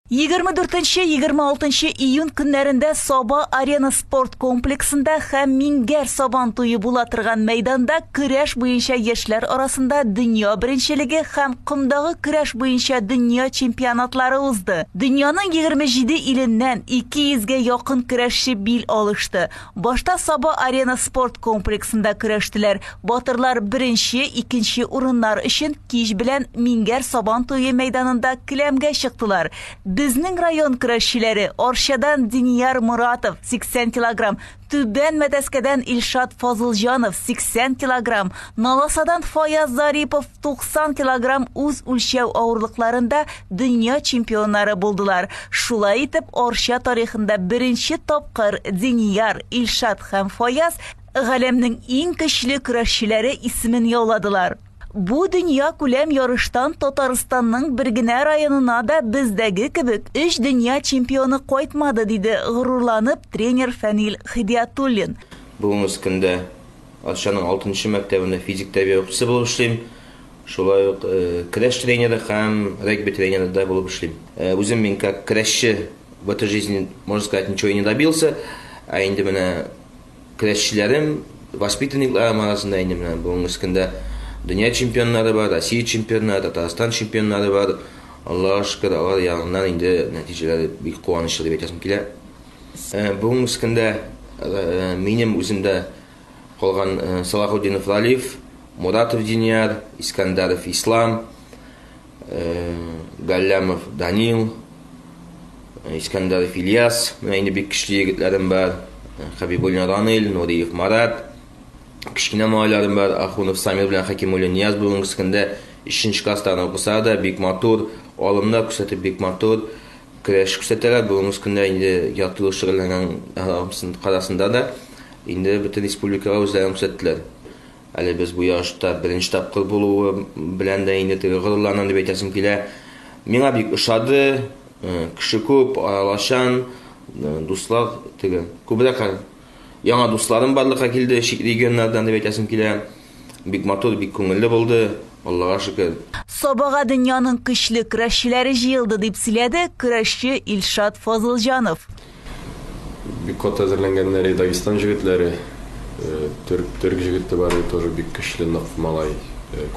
Егерме дүртенче, егерме алтынчы июнь көннәрендә Саба Арена спорт комплексында һәм Мингәр Сабан туе була торган мәйданда көрәш буенча яшьләр арасында дөнья беренчелеге һәм комдагы көрәш буенча дөнья чемпионатлары узды. Дөньяның 27 иленнән 200 гә якын көрәшче бил алышты. Башта Саба Арена спорт комплексында көрәштеләр. Батырлар беренче, икенче урыннар өчен Кич белән Мингәр Сабан туе мәйданында келәмгә чыктылар. Безнең район көрәшчеләре Арчадан Динияр Моратов, 80 килограмм, Түбән Мәтәскәдән Илшат Фазылҗанов, 80 килограмм, Наласадан Фаяз Зарипов, 90 килограмм, үз үлчәү авырлыкларында дөнья чемпионнары булдылар. Шулай итеп, Арча тарихында беренче тапкыр Динияр, Илшат һәм Фаяз Галәмнең иң көчле көрәшчеләре исемен яуладылар. Бу дөньякүләм ярыштан Татарстанның бер генә районына да бездәге кебек өч дөнья чемпионы кайтмады, диде горурланып тренер Фәнил Хидиятуллин. Бүгенге көндә Арчаның алтынчы мәктәбендә физик тәрбия укытучысы булып эшлим. Шулай ук көрәш тренеры һәм регби тренеры да булып эшлим. Үзем мин как көрәшче в этой жизни, можно сказать, ничего и не добился, ә инде менә Көрәшчеләрем, воспитанникларым арасында инде менә бүгенге көндә дөнья чемпионнары бар, Россия чемпионнары, Татарстан чемпионнары бар. Аллага шөкер, алар ягыннан инде нәтиҗәләр бик куанычлы дип әйтәсем килә. Бүгенге көндә минем үземдә калган Салахутдинов Ралиф, Муратов Динияр, Искандаров Ислам, Галләмов Данил, Искәндәров Ильяс, менә инде бик көчле егетләрем бар. Хабибуллин Ранил, Нуриев Марат, кечкенә малайларым бар. Ахунов Самир белән Хакимуллин Нияз бүгенге көндә 3нче класста укыса да, бик матур, алымда күрсәтеп бик матур көрәш күрсәтәләр. Бүгенге көндә инде ятлы шөгыльләнгән арасында да инде бөтен республикага үзләрен күрсәттеләр. Әле без бу ярышта беренче тапкыр булуы белән дә инде теге горурланам дип әйтәсем килә. Миңа бик ошады. Кеше күп, аралашан, дуслар теге. Күбрәк яңа дусларым барлыкка килде, чит регионнардан дип әйтәсем килә. Бик матур, бик күңелле булды, Аллага шөкер. Сабага дөньяның көчле көрәшчеләре җыелды, дип сөйләде көрәшче Илшат Фазылҗанов. Бик каты әзерләнгәннәр и Дагестан җегетләре, төрк төрк җегете бар иде тоже бик көчле нык малай,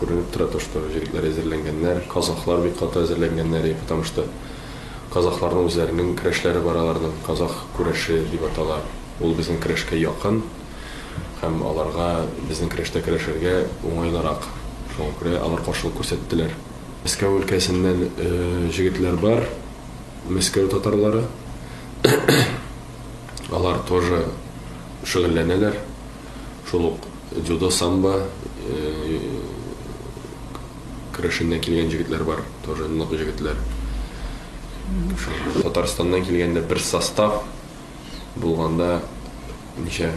күренеп тора то что җегетләр әзерләнгәннәр, казахлар бик каты әзерләнгәннәр и потому что казахларның үзләренең көрәшләре бар аларның казах күрәше дип атала ул безнең көрәшкә якын һәм аларга безнең көрәштә көрәшергә уңайлырак шуңа күрә алар каршылык күрсәттеләр. Мәскәү өлкәсеннән җегетләр бар. Мәскәү татарлары. Алар тоже шөгыльләнәләр. Шул ук дзюдо, самбо э, керәшеннән килгән җегетләр бар, тоже нык җегетләр. Татарстаннан килгәндә бер состав булганда ничә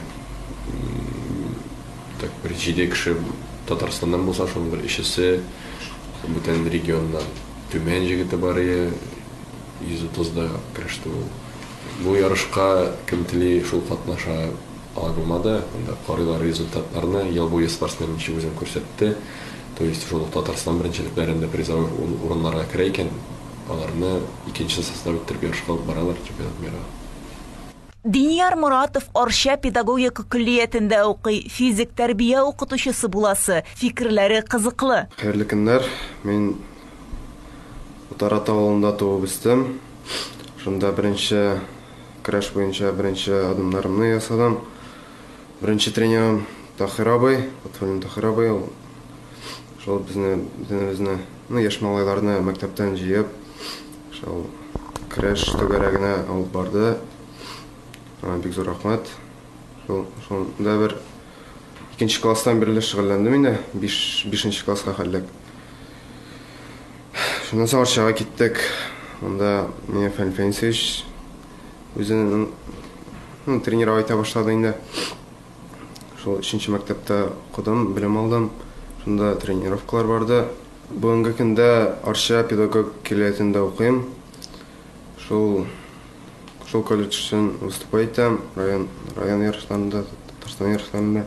так бер җиде кеше Татарстаннан булса, шуның бер өчесе бүтән регионнан. Төмән җегете барые 130 да кереште ул. Бу ярышка кем тели шул катнаша ала булмады. Анда карыйлар результатларны. Ел буе спортсмен ничек үзен күрсәтте. То есть шул ук Татарстан беренчелекләрендә призовой урыннарга керә икән, аларны икенче состав иттереп ярышка алып баралар Чемпионат мирга. Динияр Моратов Арча педагогика көллиятендә укый, физик тәрбия укытучысы буласы, фикерләре кызыклы. Хәерле көннәр! Мин Утараты авылында туып үстем. Шунда беренче көрәш буенча беренче адымнарымны ясадым. Беренче тренерым Таһир абый, Лотфуллин Таһир абый. Ул шул безне, бөтенебезне, ну, яшь малайларны мәктәптән җыеп, Шул креш түгәрәгенә алып барды. Аңа бик зур рәхмәт. Шул, шунда бер икенче класстан бирле шөгыльләндем инде. Биш, бишенче класска хәллек. Шуннан соң Арчага киттек. Анда миңа Фәнил Фәнисович үзенең ну, тренировать итә башлады инде. Шул өченче мәктәптә укыдым, белем алдым. Шунда тренировкалар барды. Бүгенге көндә Арча педагог киләетендә укыйм. Шул шул колледж өчен выступай итәм, район район ярышларында, Татарстан ярышларында.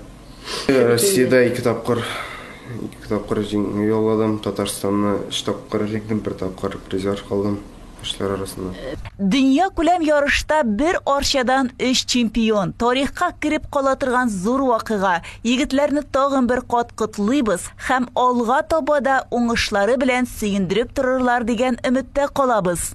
Россиядә ике тапкыр ике тапкыр җиңү яуладым, Татарстанны өч тапкыр җиңдем, бер тапкыр призер калдым. кешеләр арасында. Дөньякүләм ярышта бер Арчадан өч чемпион, тарихка кереп кала торган зур вакыйга. Егетләрне тагын бер кат котлыйбыз һәм алга таба да уңышлары белән сөендереп торырлар дигән өметтә калабыз.